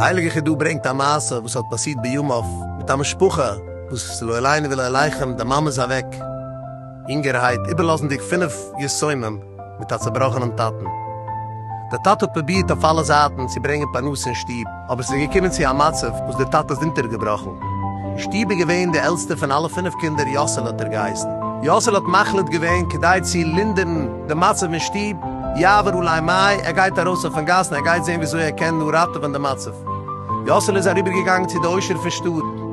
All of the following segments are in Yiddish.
די הייליגע חידא ברענגט א מעשה וואס האט פאסירט בימיו מיט א משפחה וואס לא עלינו ולא עליכם די מאמע איז אוועק יונגערהייט איבערלאזנדיג פינף יתומים, מיט א צובראכענעם טאטן. דער טאטע האט פרובירט אויף אלע זייטן צו ברענגען פרנסה אין שטוב, אבער ס'איז געקומען צו א מצב וואס דער טאטע איז אונטערגעבראכן. אין שטוב איז געווען דער עלטסטער פון אלע פינף קינדער, יאסעלע האט ער געהייסן. יאסעלע האט מחליט געווען, כדי צו לינדערן דעם מצב אין שטוב, יעבור אולי מים, ער גייט ארויס אויפן גאס און ער גייט זען וויאזוי ער קען נאר ראטעווען דעם מצב. יאסעלע איז אריבערגעגאנגען צו די עושר פון שטאט.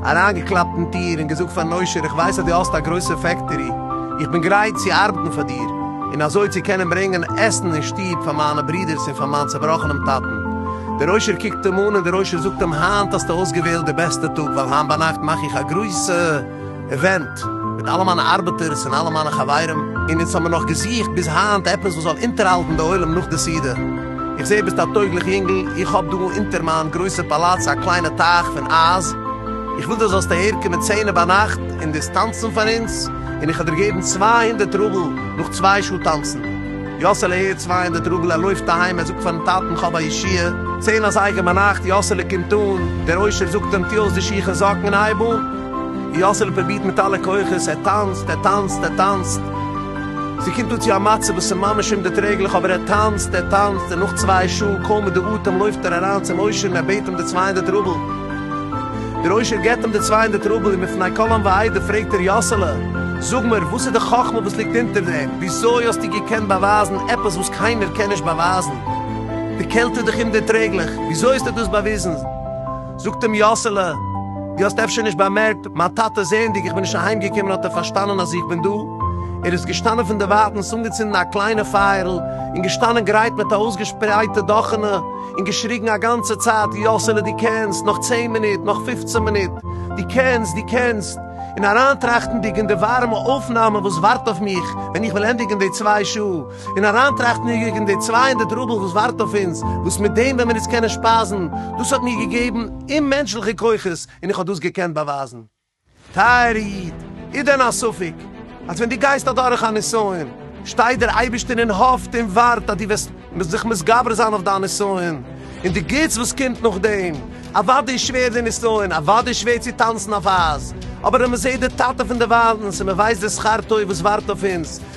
אריינגעקלאפט אין טיר און געזאגט פארן עושר איך ווייס אז דו האסט א גרויסע פעקטערי, איך בין גרייט צו ארבעטן פאר דיר און אזוי צו קענען ברענגען עסן אין שטוב פאר מיינע ברודערס און פאר מיין צעבראכענעם טאטן. דער עושר קוקט אים אן און דער עושר זאגט אים היינט האסטו אויסגעוועלט די בעסטע טאג ווייל היינט ביינאכט מאך איך א גרויסע עווענט, מיט אלע מיינע ארבעטערס און אלע מיינע חברים, און אונז האמיר נאך געזוכט ביז היינט עפעס וואס זאל אונטערהאלטן די עולם נאך די סעודה. איך זעה ביסט א טויגליך יונגל, איך האב דא אונטער מיין גרויסע פאלאץ א קליינע טייך פון אייז, איך וויל דו זאלסט אהערקומען צענע ביינאכט און דאס טאנצן פאר אונז, און איך וועל דיר געבן צוויי הונדערט רובל נאך צוויי שעה טאנצן. יאסעלע הערט צוויי הונדערט רובל, ער לויפט אהיים, ער זאגט פארן טאטן כ'האב א ישועה. צען אזייגער ביינאכט, יאסעלע קומט אן, דער עושר זאגט אים, טו אויס די שיך און זאקן און הייב אן. יאסעלע פרובירט מיט אלע כוחות, ער טאנצט, ער טאנצט, ער טאנצט, ס'קומט אן צו א מצב וואס איז ממש אומדערטרעגליך, אבער ער טאנצט, ער טאנצט, און נאך צוויי שעה, קוים מיט די אטעם, לויפט ער אריין צום עושר און ער בעט אים די צוויי הונדערט רובל. דער עושר געבט אים די צוויי הונדערט רובל און מפני כל עם ועדה פרעגט ער, יאסעלע, זאג מיר, וואס איז די חכמה וואס ליגט אונטער דעם? וויאזוי האסטו געקענט באווייזן עפעס וואס קיינער קען נישט באווייזן? די קעלט איז דאך אומדערטרעגליך, וויאזוי האסטו דאס באוויזן? זאָגט אים יאָסעלע, דו האָסט אפשר נישט באַמערקט, מײַן טאַטע, זעענדיק, איך בין נישט אַהיימגעקומען, האָט ער פֿאַרשטאַנען, אַז איך בין דאָ. ער איז געשטאַנען פֿון דער ווײַטנס, אָנגעצונדן אַ קליינע פֿײַערל און געשטאַנען גרייט מיט אַ אויסגעשפּרייטע דאָכענע און געשריגן אַ גאַנצע צײַט, יאָסעלע, דו קענסט! נאָך צען מינוט! נאָך פֿופֿצן מינוט! דו קענסט! דו קענסט! און אַרײַנטראַכטנדיק אין די וואַרעמע אויפֿנאַמע, וואָס וואַרט אויף מיך, ווען איך וועל ענדיקן די צוויי שעה, און אריינטראכטן יגע אין די צוויי הונדערט רובל וואס ווארט אויף אונז, וואס מיט דעם ווען מיר אונז קענען שפייזן, דאס האט מיר געגעבן אוממענטשליכע כוחות און איך האב דאס געקענט באווייזן. טייערע איד, איז דען א ספק אז ווען דו גייסט אדורך א נסיון, שטייט דער אייבערשטער און האפט און ווארט אז דו וועסט זיך מתגבר זיין אויף דיין נסיון, און די גוטס וואס קומט נאכדעם? אוודאי איז שווער די נסיון, אוודאי איז שווער צו טאנצן אויף אייז, אבער אז מען זעט די טאטע פון די וויילנס און מען ווייסט די שכר טוב וואס ווארט אויף אונז,